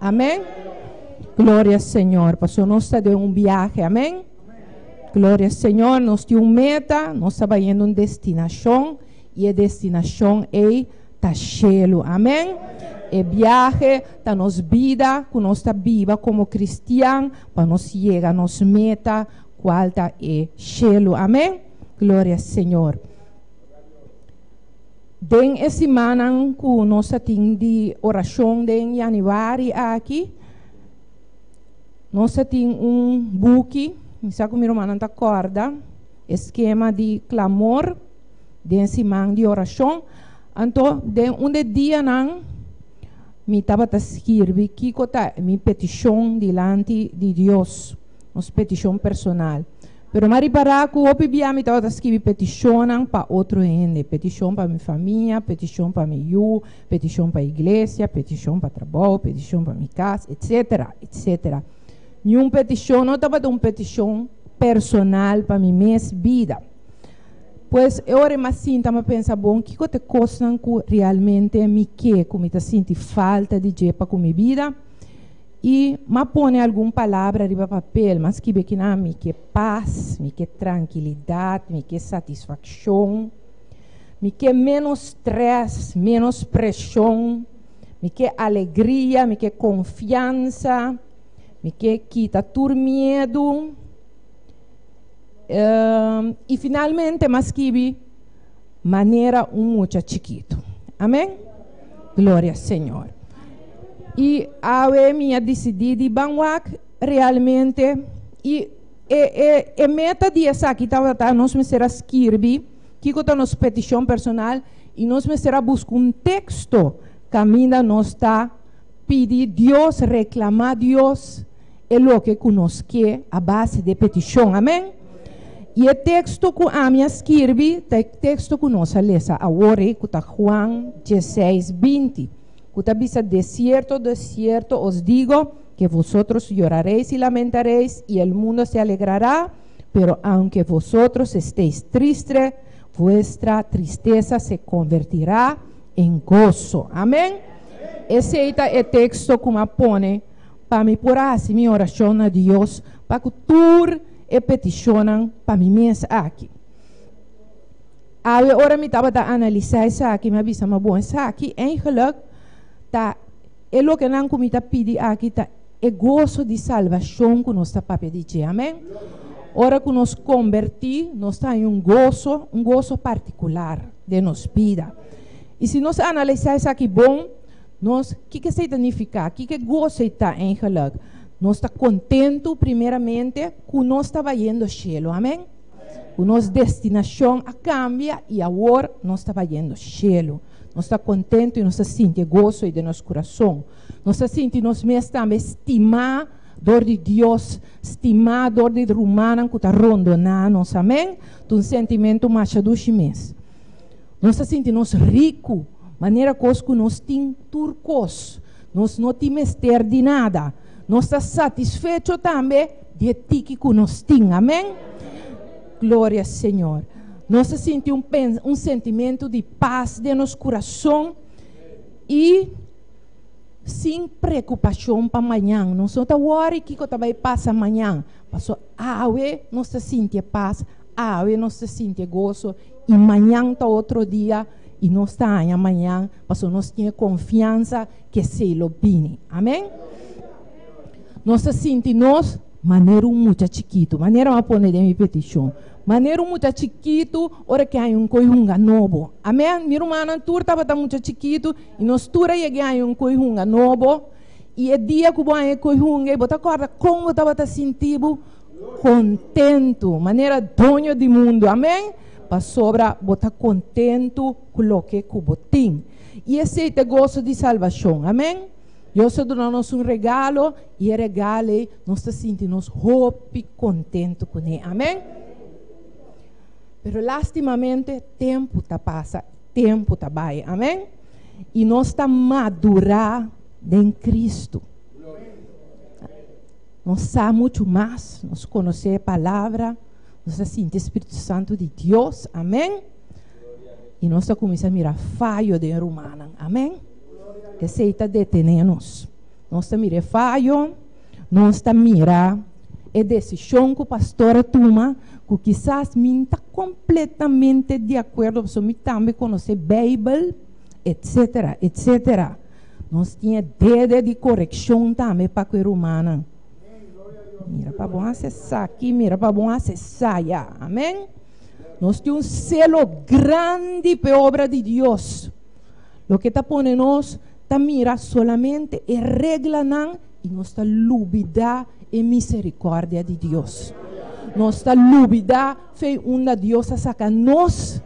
Amen gloria señor paso nos ta den un biahe amen gloria señor nos tin un meta nos ta bayendo un destinacion y e destinacion ey ta cielo amen e biahe ta nos bida cu nos ta biba como cristian pa nos yega nos meta cual ta e cielo amen gloria señor. Den e simannan ku nos a tin di orashon den yanüari aki, nos a tin un buki, mi sa ku mi rumannan ta kòrda, e skema di klamor den siman di orashon. Anto den un di e dianan mi tabata skirbi kiko ta mi petishon dilanti di Dios, nos petishon personal. Pero m'a ripará ku hopi bia mi tabata skibi petishonnan pa otro hende, petishon pa mi famia, petishon pa mi yu, petishon pa iglesia, petishon pa trabou, petishon pa mi kas, etsetera, etsetera. Niun petishon no tabata un petishon personal pa mi mes bida. Pues e ora m'a sinta m'a pensa, Bon, kiko ta e kosnan ku realmente mi ke, ku mi ta sinti falta di dje pa ku mi bida? I m'a pone algun palabra riba papel, m'a skibe kina, mi ke pas, mi ke trankilidat, mi ke satisfakshon, mi ke ménos strès, ménos preshon, mi ke alegria, mi ke konfiansa, mi ke kita tur miedu. I finalmente m'a skibi. manera un mucha chikitu. Amen. Gloria Señor. Y awe mi a decidí di ban wak realmente y e, e, e meta di esaki tabata nos mester a skirbi kiko ta nos peticion personal y nos mester a busca un texto caminda nos ta pidi Dios, reclama Dios, e loke ku nos ke a base de e petishon. Amèn. I e teksto ku ami a skirbi ta e teksto ku nos a lesa awor ei, ku ta Juan dieseis binti, ku ta bisa, De sierto, de sierto os digo, ke vosotros yorareis i lamentareis, i el mundo se alegrará, pero aunke vosotros esteis tristre, vuestra tristesa se konvertirá en goso. Amèn. Esei ta e teksto ku mi a pone. pa mi por a hasi mi orashon na Dios pa ku tur e petishonnan pa mi mes aki. Awe ora mi tabata analisá esaki, mi a bisa, ma bon, esaki eigenlijk ta e lokenan ku mi ta pidi aki ta e goso di salbashon ku nos ta papia di dje. Amen. Ora ku nos kombertí, nos ta haña un goso, un goso partikular den nos bida. I si nos analisá esaki bon, Nos, kiko esei ta nifiká? Kiko e gosei ta? Eingelik, nos ta kontentu primeramente ku nos ta bayendo shelu. Amen. Ku nos destinashon a kambia i awor nos ta bayendo shelu. Nos ta kontentu i nos ta sinti e goso ei den nos kurason. Nos ta sinti nos mes tambe stimá dor di Dios, stimá dor di e rumannan ku ta rondoná nos. Amen. Ta un sentimentu masha dushi mes. Nos ta sinti nos riku manera kos ku nos tin tur kos. Nos no tin mester di nada. Nos ta satisfecho tambe di e tiki ku nos tin. Amen. Gloria Señor. Nos ta sinti un pens, un sentimentu di pas den nos kurason i sin preokupashon pa mañan. Nos no ta wòri kiko ta bai pasa mañan, paso awe nos ta sinti e pas. Awe nos ta sinti e goso i mañan ta otro dia i nos ta haña mañan pasobra nos tin e konfiansa ku esei lo bini. Amen. Nos ta sinti nos manera un mucha chikitu. Manera mi a pone den mi petishon. Manera un mucha chikitu ora ke haña un koi hunga nobo. Amen. Mi rumannan tur tabata mucha chikitu i nos tur a yega haña un koi hunga nobo. I e dia ku bo haña e koi hunga ei bo ta kòrda kon bo tabata sinti bo? Kontentu, manera doño di mundu. Amen. Pasobra bo ta kontentu ku loke ku bo tin. I esei ta e goso di salbashon. Amen. Dios a duna nos un regalo, i e regalo ei nos ta sinti nos hopi kontentu kuné. Amen. Pero lastimamente tempu ta pasa, tempu ta bai. Amen. I nos ta madurá den Kristu. Nos sa muchu mas, nos konosé e palabra, nos ta sinti e spiritu santu di Dios, amén, i nos ta kuminsá mira fayo den rumannan, amén, esei ta detené nos, nos ta mira e fayo, nos ta mira e desishon ku pastor a tuma ku kisas mi no ta kompletamente di akuerdo pasobra mi tambe konosé Beibel, etsetera, etsetera. Nos tin e dede di korekshon tambe pa ku e rumannan. Mira pa bon hasi esaki, mira pa bon hasi esaya. Amen. Nos tin un selo grandi pa e obra di Dios. Loke ta pone nos ta mira solamente e reglanan i nos ta lubidá e miserikòrdia di Dios. Nos ta lubidá. Fe unda Dios a saka nos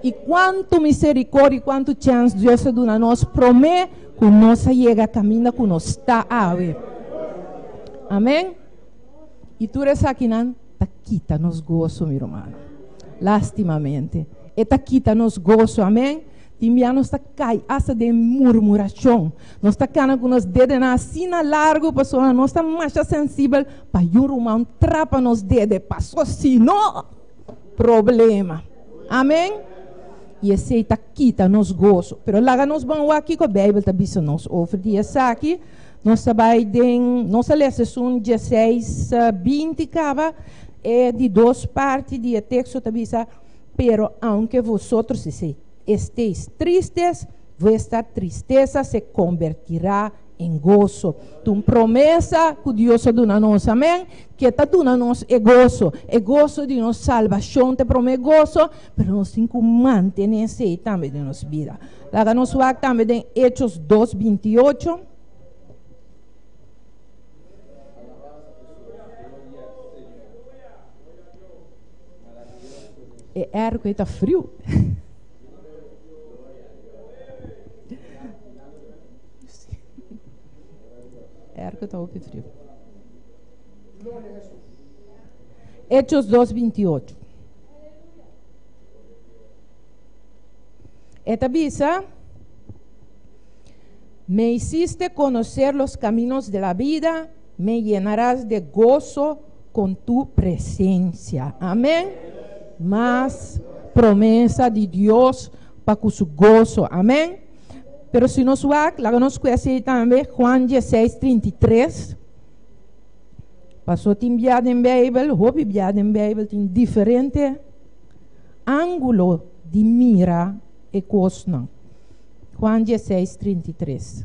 i kuantu misericordia i kuantu chèns Dios a duna nos promé ku nos a yega kaminda ku nos sta awe. Amèn. I tur esakinan ta kita nos goso, mi rumano. Lastimamente e ta kita nos goso. Amèn. I mira nos ta kai asta den murmurashon. Nos ta kana ku nos dedenan asina largu pasobra nos ta masha sensibel pa yu ruman trapa nos dede, paso sino problema. Amen. I esei ta kita nos goso. Pero laga nos ban wak kiko Beibel ta bisa nos over di esaki. Nos ta bai den, nos a lesa esun dieseis binti kaba. E di dos parti di e teksto ta bisa, Pero aunke vosotros esteis tristes, vuestra tristesa se kombertirá en goso. Ta un promesa ku Dios a duna nos, amèn, ke ta duna nos e goso. E goso di nos salbashon ta e promé goso, pero nos tin ku mantené esei tambe den nos bida. Laga nos wak tambe den Hechos dos binti i ocho. E R ku e ta friu. R ku ta hopi friu. Hechos 2:28. E ta bisa, Me hiciste conocer los caminos de la vida. Me llenaras de gozo con tu presencia. Amen. Mas promesa di Dios pa cu su gozo. Amen. Pero si nos wak, laga nos cues ei tambe, Juan dieciseis trinta i tres. Paso tin bia den Bijbel, hopi bia den Bijbel tin diferente angulo di mira e cosnan. Juan dieciseis trinta i tres.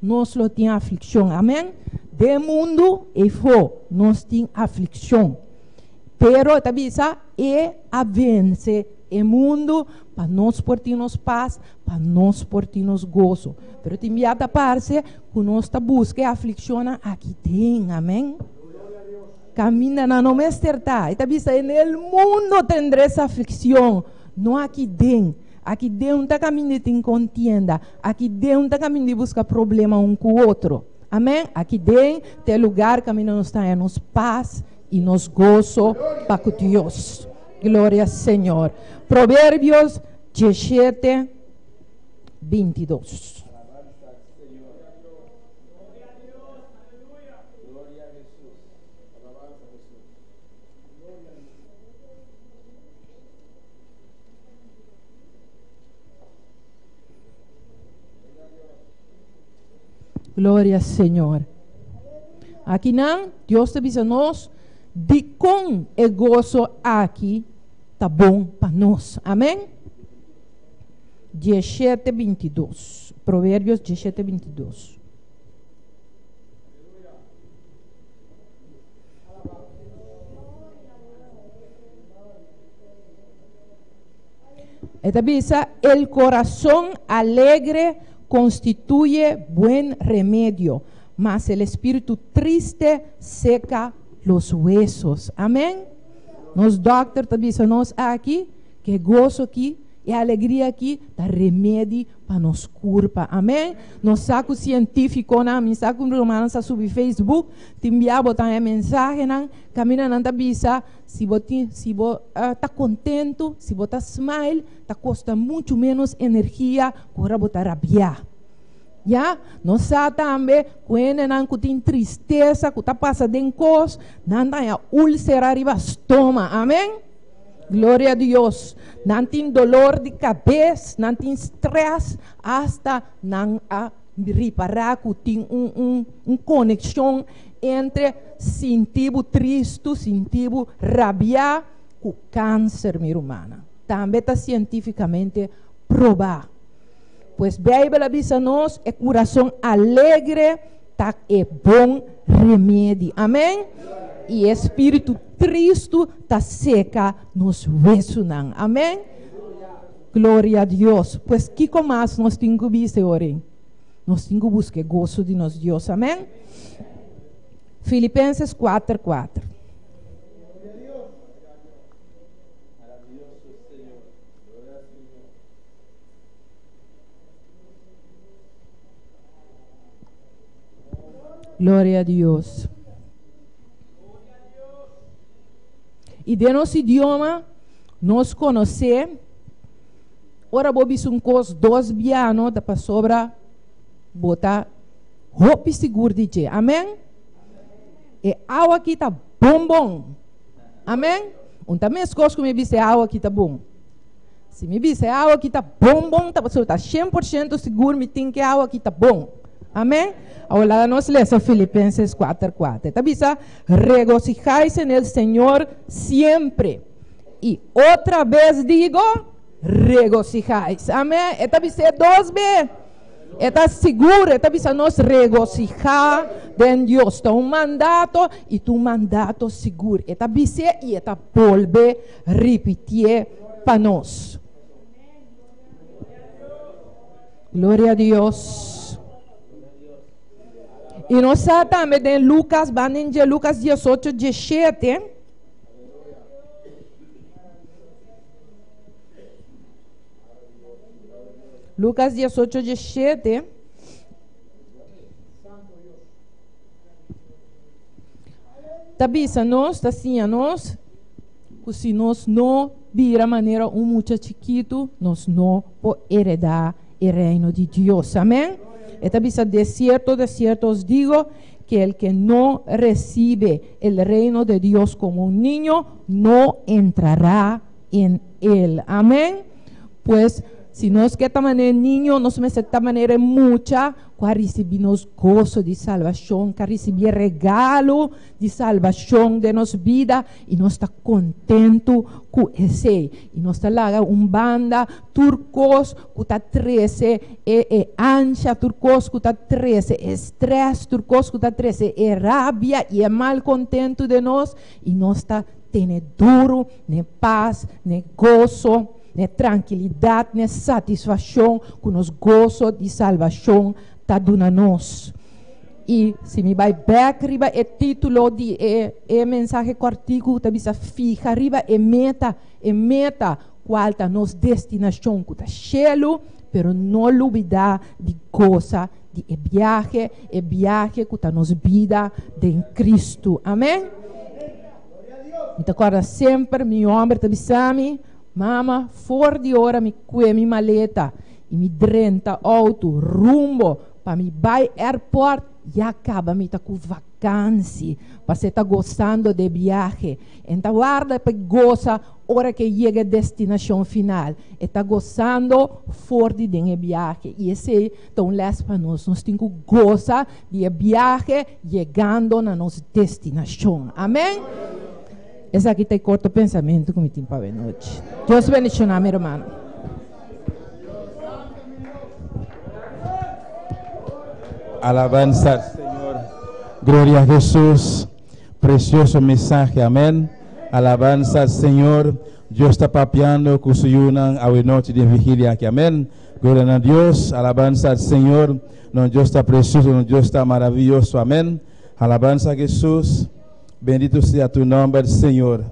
Nos lo tin aflikshon, amen. Den mundu, efo, nos tin aflikshon. Pero e ta bisa, E a vense e mundu pa nos por tin nos pas, pa nos por tin nos goso. Pero tin bia ta parse ku nos ta buska e aflikshonnan aki den, amen. Kaminda nan no mester ta. E ta bisa, En el mundo tendres aflikshon, no aki den. Aki deun ta kamindi tin kontienda, aki deun ta kamindi buska problema un ku otro. Amen. Aki den ta e lugar kaminda nos ta haña nos pas i nos goso pa ku Dios. Gloria Señor. Proverbios diesiete bintidos. Gloria Señor. Aki nan, Dios ta bisa nos dikon e goso aki ta bon pa nos. Amen. Dieshete bintidos. Proverbios dieshete bintidos. E ta bisa, El corazon alegre constituye buen remedio, mas el espiritu triste seca los huesos. Amen. Nos dokter ta bisa nos aki cu e goso ki, e alegria ki ta remedi pa nos curpa. Amen. Nos sa cu cientificonan, mi sa cu mi rumannan sa subi Facebook tin bia botan e mensahenan, caminda nan ta bisa, Si bo tin, si bo ah, ta kontentu, si bo ta smile, ta kosta muchu menos energia ku ora bo ta rabiá. Ya, nos sa tambe ku hendenan ku tin tristesa ku ta pasa den kos, nan ta haña úlsera riba stoma. Amén. Gloria a Dios. Nan tin dolor di kabes, nan tin stress, hasta nan a Ripará ku tin un konekshon entre sinti bo tristu, sinti bo rabiá ku kanser, mi rumannan. Tambe ta sientífikamente probá. Pues Beibel a bisa nos, E kurason alegre ta e bon remedi. Amen. I e spiritu tristu ta seka nos wesunan. Amen. Gloria a Dios! Pues kiko mas nos tin ku bisa e ora ei? Nos tin ku buska e goso di nos Dios. Amen. Filipenses kuater kuater. Gloria a Dios! I den nos idioma nos konosé. Ora bo bisa un kos dos bia no ta pasobra bo ta hopi sigur di dje. Amèn. E awa aki ta bon bon. Amèn. Un ta meskos ku mi bisa e awa aki ta bon. Si mi bisa e awa aki ta bon bon ta pasobra mi ta shen por shento sigur mi tin ku e awa aki ta bon. Amèn. Awor laga nos lesa Filipenses kuater kuater. Ta bisa, Regocijáise nel Señor siempre. I otra bes digo, regocijáis. Amé. E ta bis'é dos be. E ta sigur, e ta bisa nos regocijá den Dios. Ta un mandato i ta un mandato sigur. E ta bis'é i e ta bolbe ripitié pa nos. Gloria a Dios. I nos sa tambe den Lucas, ban den dje, Lucas diesocho diesshete, Lucas diesocho diesshete, ta bisa nos, ta siña nos, ku si nos no bira manera un mucha chikitu, nos no por eredá. e reino di Dios. Amen. E ta bisa, De cierto, de cierto os digo, que el que no recibe el reino de Dios como un niño, no entrará en el. Amen. Pues, si nos ke ta mané niño, nos mester ta mané e mucha ku a risibí nos goso di salbashon, ku a risibí e regalo di salbashon den nos bida, i nos ta kontentu ku esei. I nos ta laga un banda. tur kos ku ta trese e e ansha, tur kos ku ta trese e strès, tur kos ku ta trese e rabia i e malkontentu den nos, i nos ta tene duru, ne pas, ne goso, ne trankilidat, ne satisfakshon ku nos goso di salbashon ta duna nos. I si mi bai bèk riba e título di e e mensahe kòrtiku ku ta bisa Fiha riba e meta, e meta, Cual ta nos destinacion cu ta cielo, pero no lubida di goza di e biahe, e biahe cu ta nos bida den Cristo. Amen. Mi ta corda semper mi homber ta bisami, Mama, for di ora mi cue mi maleta y mi drenta auto rumbo pa mi bay airport, ya caba mi ta cu vakansi, p'esey ta gozando d'e biahe. En ta warda p'e goza. Ora ke yega e destinashon final, e ta gosando for di den e biahe. I esei ta un lès pa nos. Nos tin ku gosa di e biahe yegando na nos destinashon. Amen. Esaki ta e korto pensamentu ku mi tin pa bo e nochi. Dios bendishoná mi hermano. Alabansa al Señor. Gloria a Hesus. Precioso mensahe amen. Alabansa al Señor. Dios ta papiando cu su yunan awe nochi den vigilia aki. Amen. Gloria na Dios. Alabansa al Señor. Nos Dios ta precioso. Nos Dios ta maraviyoso. Amen. Alabansa Jesus. Bendito sea tu nomber Señor.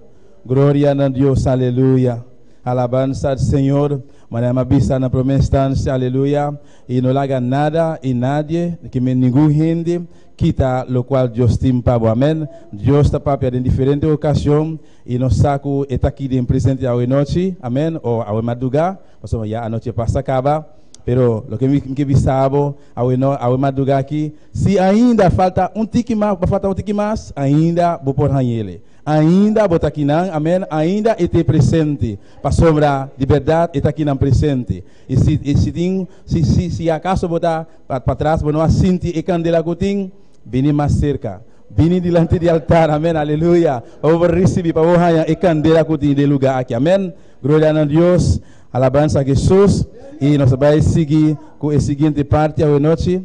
Gloria na Dios. Aleluya. Alabansa al Señor. Manera mi a bisa na prome instancia. Aleluya. Y no laga nada y nadie, ki men ningun hende, Kita lokual Dios tin pa bo. Amén. Dios ta papia den diferente ocasion y nos sa cu e ta aki den presente awe nochi, amén, o awe madruga, pasobra ya anochi a pas ta caba. Pero loke mi ke bisa bo awe no, awe madruga aki, si ainda falta un tiki mas, bo falta un tiki mas, ainda bo por hañele. Ainda bo ta akinan, amén, ainda e te presente, pasobra di berdad e ta akinan presente. Y si, y si tin, si, si, si acaso bo ta. Pat patras, bo no a sinti e kandela ku tin? Bini mas serka. Bini dilanti di altar. Amen. Aleluya. Pa bo por risibí, pa bo haña e kandela ku tin den e lugá aki. Amen. Gloria na Dios. Alabansa a Hesus. I nos a bai sigui ku e siguiente parti awe nochi.